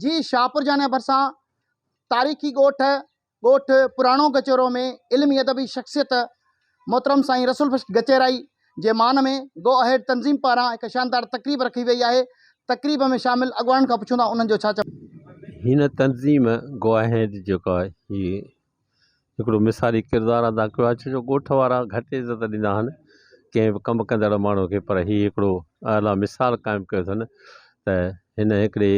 جي شاهپورجانا ڀرسان تاريخي ڳوٺ ڳوٺ پراڻو گچيرو ۾ علمي ادبي شخصيت محترم سائين رسول بخش گچيرائي جي مان ۾ گو اهيڊ تنظيم پاران هڪ شاندار تقريب رکي وئي آهي تقريب ۾ شامل اڳواڻن کان پڇون ٿا انهن جو ڇا چوڻ آهي. هن تنظيم گو اهيڊ جيڪا هي هڪڙو مثالي ڪردار ادا ڪيو آهي ڇو جو ڳوٺ وارا گهٽ عزت ڏيندا آهن ڪنهن به ڪم ڪندڙ ماڻهو کي پر هي هڪڙو اعليٰ مثال قائم ڪيو اٿن ته هن هڪڙي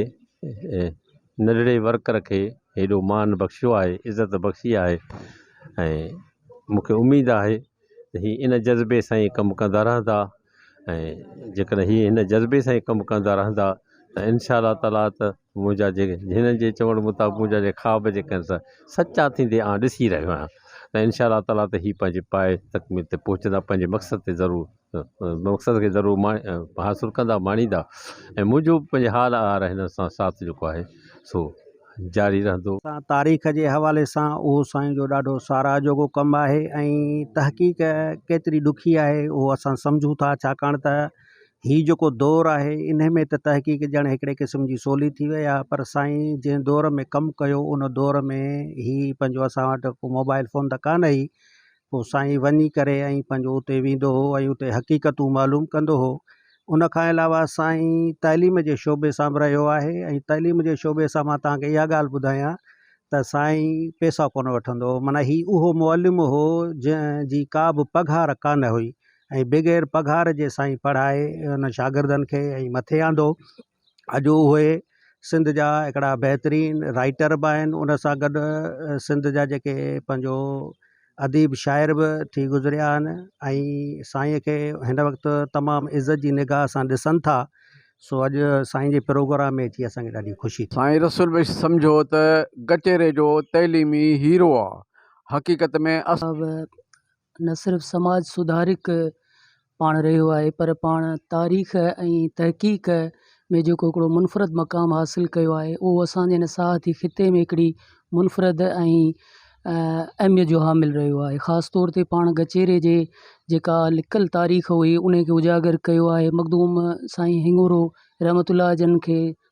ننڍڙي ورڪر کي هيڏو مان بخشيو آهي عزت بخشي آهي ۽ مون کي اميد آهي ته هي ان جذبي سان ئي ڪم ڪندا رهندا ۽ جيڪڏهن هي هن جذبي سان ئي ڪم ڪندا رهندا ته انشاء الله تعالٰي ته منهنجا جيڪي هنن جي چوڻ مطابق منهنجا جي خواب جيڪي آهن سا سچا ٿيندي آن ڏسي رهيو آهيان ته انشاء الله تعالٰي ته هي پنهنجي پائي تڪميل تي پهچندا پنهنجي مقصد تي ضرور مقصد کي ضرور ماڻي حاصل ڪندا ماڻيندا ۽ منهنجو به پنهنجي حال اهڙا هنن سان ساٿ جيڪو آهي سو جاري رهندو. تاريخ جي حوالي سان اهو سائين جو ڏاڍو ساراهه جوڳو ڪم آهي ۽ تحقيق ڪيتري ڏکي آهي اهو اسان سمجهون ٿا ڇاڪاڻ ته هي جيڪو دور آهي انهي ۾ ته تحقيق ڄڻ هڪڙي قسم جي سولي ٿي وئي آهي پر سائين جنهن دور ۾ ڪم ڪيو ان دور ۾ هي پنهنجو اسان وٽ ڪو موبائل فون ته ڪانه هئي پوء سائين وڃي ڪري ۽ پنهنجو اتي ويندو هو ۽ اتي حقيقتون معلوم ڪندو هو ان کان علاوه سائين تعليم جي شعبي سان به رهيو آهي ۽ تعليم جي شعبي سان مان توهان کي اها ڳالهه ٻڌايان ته سائين پيسا ڪونه وٺندو هو معنيٰ هي اهو معلم هو جنهن جي ڪا به پگهار ڪانه هئي ۽ بغير پگهار جي سائين پڙهائي ان شاگردن کي ۽ مٿي آندو اڄ اهي سنڌ جا هڪڙا بهترين رائيٽر به آهن ان سان گڏ سنڌ جا جيڪي پنهنجو اديب شاعر به ٿي گذريا آهن ۽ سائين کي هن وقت تمام عزت جي نگاهه سان ڏسن ٿا سو اڄ سائين جي پروگرام ۾ اچي اسان کي ڏاڍي خوشي ٿي سائين رسول بخش سمجهو ته ڪچهري جو تعليمي هيرو آ حقيقت ۾ اسان. نه صرف سماج سڌارڪ پاڻ رهيو آهي پر پاڻ تاريخ ۽ تحقيق ۾ جيڪو هڪڙو منفرد مقام حاصل ڪيو آهي اهو اسان جي هن ساهتي خطي ۾ هڪڙي منفرد ۽ اهميت جو حامل رهيو آهي خاص طور تي پاڻ ڳچيري جي جيڪا لڪل تاريخ هئي ان کي اجاگر ڪيو آهي مخدوم سائين هڱورو رحمت الله جن کي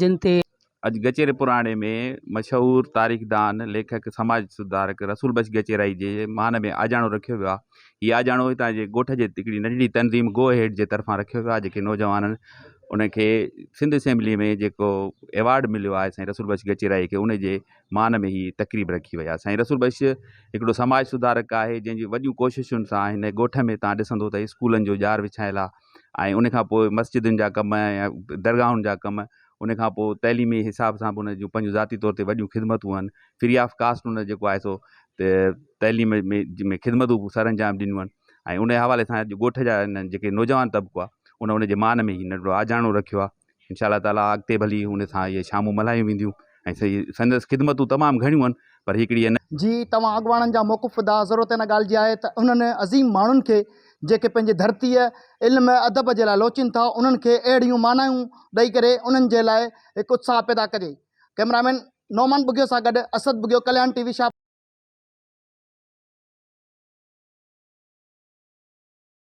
جن تي اڄ ڳچيري پراڻي ۾ مشهور تاريخدان، ليکڪ، سماج سڌارڪ رسول بخش ڳچيرائي جي مان ۾ آجياڻو رکيو ويو آهي. هي آجياڻو هتان جي ڳوٺ جي هڪڙي ننڍڙي تنظيم گو اهيڊ جي طرفان رکيو ويو آهي جيڪي نوجوانن ان کي سنڌ اسيمبلي ۾ جيڪو ايوارڊ مليو آهي سائين رسول بخش ڳچيرائي کي ان جي مان ۾ هي تقريب رکي وئي آهي سائين رسول بخش هڪڙو سماج سڌارڪ آهي جنهن جي وڏيون ڪوششن سان هن ڳوٺ ۾ تان ڏسندو ته اسڪولن جو ڄار وڇايل آهي ۽ ان کان پوء مسجدن جا ڪم يا درگاهن جا ڪم ان کان پوء تعليمي حساب سان بھ ان جون پنھنجون ذاتي طور تي وڏيون خدمتون ھن فري آف ڪاسٽ ان جيڪو آھي سو تعليم ۾ خدمتون بھ سر انجام ڏنيون ھن ۽ ان حوالي سان اڄ ڳوٺ جا ان جيڪي نوجوان طبقو آھي ان ان جي مان ۾ ھي ننڍڙو آجياڻو رکيو آھي انشاء الله تعالٰي اڳتي به هلي ان سان اهي شامون ملهايون وينديون ۽ سي سندس خدمتون تمام گهڻيون آهن پر هڪڙي ان جي توهان اڳواڻن جا موقف ادا ضرورت ان ڳالهه جي آهي ته انهن عظيم ماڻهن کي جيڪي پنهنجي ڌرتيء علم ادب جي لاء لوچين ٿا انهن کي اهڙيون معنائون ڏئي ڪري انهن جي لاء هڪ اتساهه پيدا ڪجي ڪئميرا مين نعمان ٻگهيو سان گڏ اسد ٻگهيو ڪليان ٽي وي شاهپور.